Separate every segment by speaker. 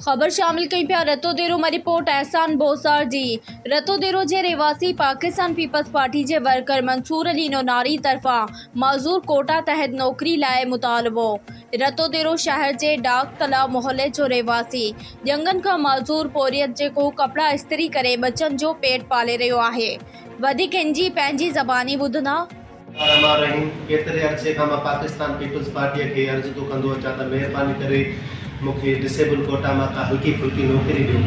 Speaker 1: خبر شامل ڪيون پيا رتوديرو مان رپورٽ احسان بوساڙ جي رتوديرو جي رهواسي پاڪستان پيپلز پارٽي جي ورڪر منصور علي نوناري طرفان معذور ڪوٽا تحت نوڪري لاء مطالبو رتوديرو شهر جي ڊاڪ تلاء محلي جو رهواسي ڄنگهن کان معذور پورهيت جيڪو ڪپڙا استري ڪري ٻچن جو پيٽ پالي رهيو آهي وڌيڪ هن جي پنهنجي زباني ٻڌندا الرحمان الرحيم
Speaker 2: ڪيتري عرصي کان مان پاڪستان پيپلز پارٽيء کي عرض ٿو ڪندو اچان ته مهرباني ڪري مون کي ڊسيبل ڪوٽا مان ڪا هلڪي ڦلڪي نوڪري ڏيو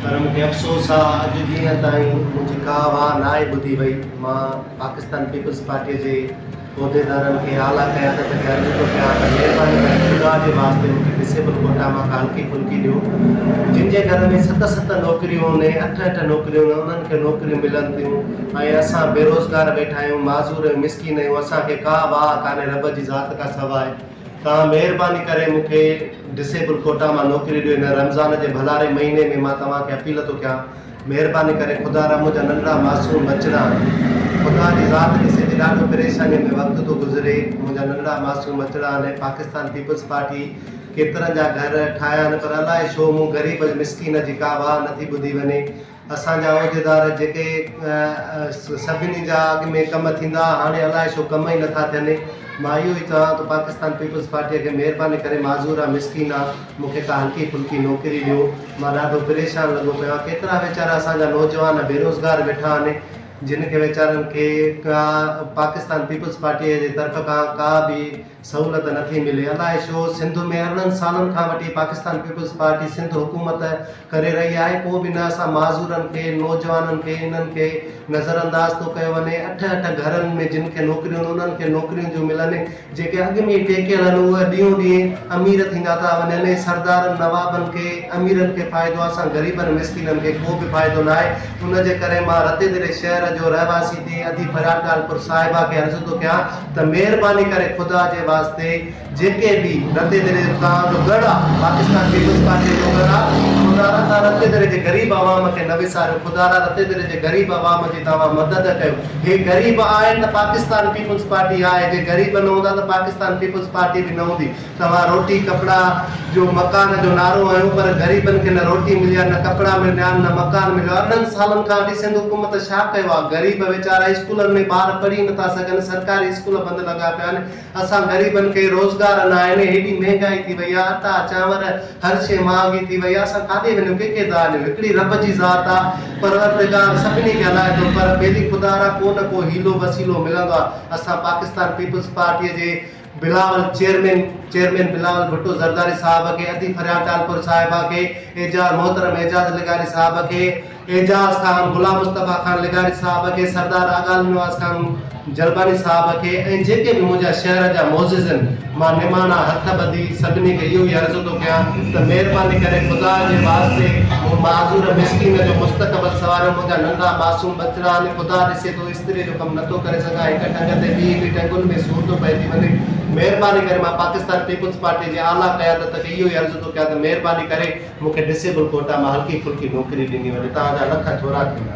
Speaker 2: پر مون کي افسوس آ اڄ ڏينهن تائين منهنجي ڪا واهه ناهي ٻڌي وئي مان پاڪستان پيپلز پارٽيء جي عهديدارن کي اعليٰ قيادت کي عرض ٿو ڪيان ته مهرباني ڪري خدا جي واسطي مون کي ڊسيبل ڪوٽا مان ڪا هلڪي ڦلڪي ڏيو جن جي گهر ۾ ست ست نوڪريون ۽ اٺ اٺ نوڪريون انهن کي نوڪريون ملن ٿيون ۽ اسان بيروزگار ويٺا آهيون، معذور ۽ مسڪين آهيون، اسان کي ڪا واهه ڪانهي رب جي ذات کان سواء، توهان مهرباني ڪري مون کي ڊسيبل ڪوٽا مان نوڪري ڏيو، هن رمضان جي ڀلاري مهيني ۾ مان توهان کي اپيل ٿو ڪيان، مهرباني ڪري خدا را منهنجا ننڍڙا معصوم ٻچڙا، خدا جي ذات کي سڄي ڏاڍو پريشانيء ۾ وقت ٿو گذري، منهنجا ننڍڙا معصوم ٻچڙا آهن، پاڪستان پيپلز پارٽي ڪيترن جا گهر ٺاهيا آهن، پر الائي ڇو مون غريب ۽ مسڪين جي ڪا واهه نٿي ٻڌي وڃي، اسان جا عهديدار جيڪي سڀني جا اڳ ۾ ڪم ٿيندا ها هاڻي الائي ڇو ڪم ئي نٿا ٿين مان اهو ئي چوان ٿو پاڪستان پيپلز پارٽيء کي مهرباني ڪري معذور آ مسڪين آ مون کي ڪا هلڪي ڦلڪي نوڪري ڏيو مان ڏاڍو پريشان لڳو پيو آ ڪيترا ويچارا اسان جا نوجوان بيروزگار ويٺا آهن جن کي ويچارن کي ڪا پاڪستان پيپلز پارٽيء جي طرف کان ڪا به سهولت نه ٿي ملي الاء ڇو سنڌ ۾ ارڙهن سالن کان وٺي پاڪستان پيپلز پارٽي سنڌ حڪومت ڪري رهي آهي پو به نه اسان معذورن کي نوجوانن کي انهن کي نظر انداز ٿو ڪيو وڃي اٺ اٺ گهرن ۾ جن کي نوڪريون انهن کي نوڪريون ٿيون ملن جيڪي اڳ ۾ ئي ٽيڪيل آهن اهي ڏينهون ڏينهن امير ٿيندا ٿا وڃن ۽ سردارن نوابن کي اميرن کي فائدو آهي اسان غريبن مسڪينن کي ڪو به فائدو نه آهي ان جي ڪري مان رتيدري شهر جو رهواسي ٿي ادي پريان ٽالپر صاحبه کي عرض ٿو ڪيان ته مهرباني ڪري خدا جي واسطي جيڪي به رتي دري جو توهان جو ڳڙ آ پاڪستان پيپلز پارٽي جو ڳڙ آ خدا را توهان رتي دري جي غريب عوام کي نه وساريو خدا را رتي دري جي غريب عوام جي توهان مدد ڪيو هي غريب آهن ته پاڪستان پيپلز پارٽي آهي جي غريب نه هوندا ته پاڪستان پيپلز پارٽي به نه هوندي توهان روٽي ڪپڙا جو مڪان جو نعرو هنيو پر غريبن کي نه روٽي ملي آ نه ڪپڙا ملنيا آن نه مڪان مليو آ انهن سالن کان اڍي سنڌ حڪومت ڇا ڪيو آ غريب ويچارا اسڪولن ۾ ٻار پڙهي نٿا سگهن سرڪاري اسڪول بند لڳا پيا آهن اسان غريبن کي روزگار نه آهن هيڏي مهنگائي ٿي وئي آ اٽا چانور هر شئي مهانگي ٿي وئي آ اسان ڪاڏي وڃون ڪي کي ڌار ڏيون هڪڙي رب جي ذات آ پروردگار سڀني کي هلائي ٿو پر ٻيلي خدارا ڪو نه ڪو حيلو وسيلو ملندو آ اسان پاڪستان پيپلز پارٽي جي بلاول چيئرمين چيئرمين بلاول ڀٽو زرداري صاحب کي ادي فريال ٽالپر صاحبه کي اعجاز محترم اعجاز لغاري صاحب کي اعجاز خان غلام مصطفي خان لغاري صاحب کي سردار آغال نواز خان جلباني صاحب کي ۽ جيڪي به منهنجا شهر جا معززن مان نماڻا هٿ ٻڌي سڀني کي اهو ئي عرض ٿو ڪيان ته مهرباني ڪري خدا جي واسطي مون معذور مسڪين جو مستقبل سواريو منهنجا ننڍا معصوم ٻچڙا آهن خدا ڏسي ٿو استري جو ڪم نٿو ڪري سگهان هڪ ٽنگ تي ٻي هڪ ٽنگن ۾ سور ٿو پئجي وڃي مهرباني ڪري مان پاڪستان پيپلز پارٽي جي اعليٰ قيادت کي اهو ئي عرض ٿو ڪيان ته مهرباني ڪري مون کي ڊسيبل ڪوٽا مان هلڪي ڦلڪي نوڪري ڏني وڃي توهان جا لک ٿورا ٿيندا.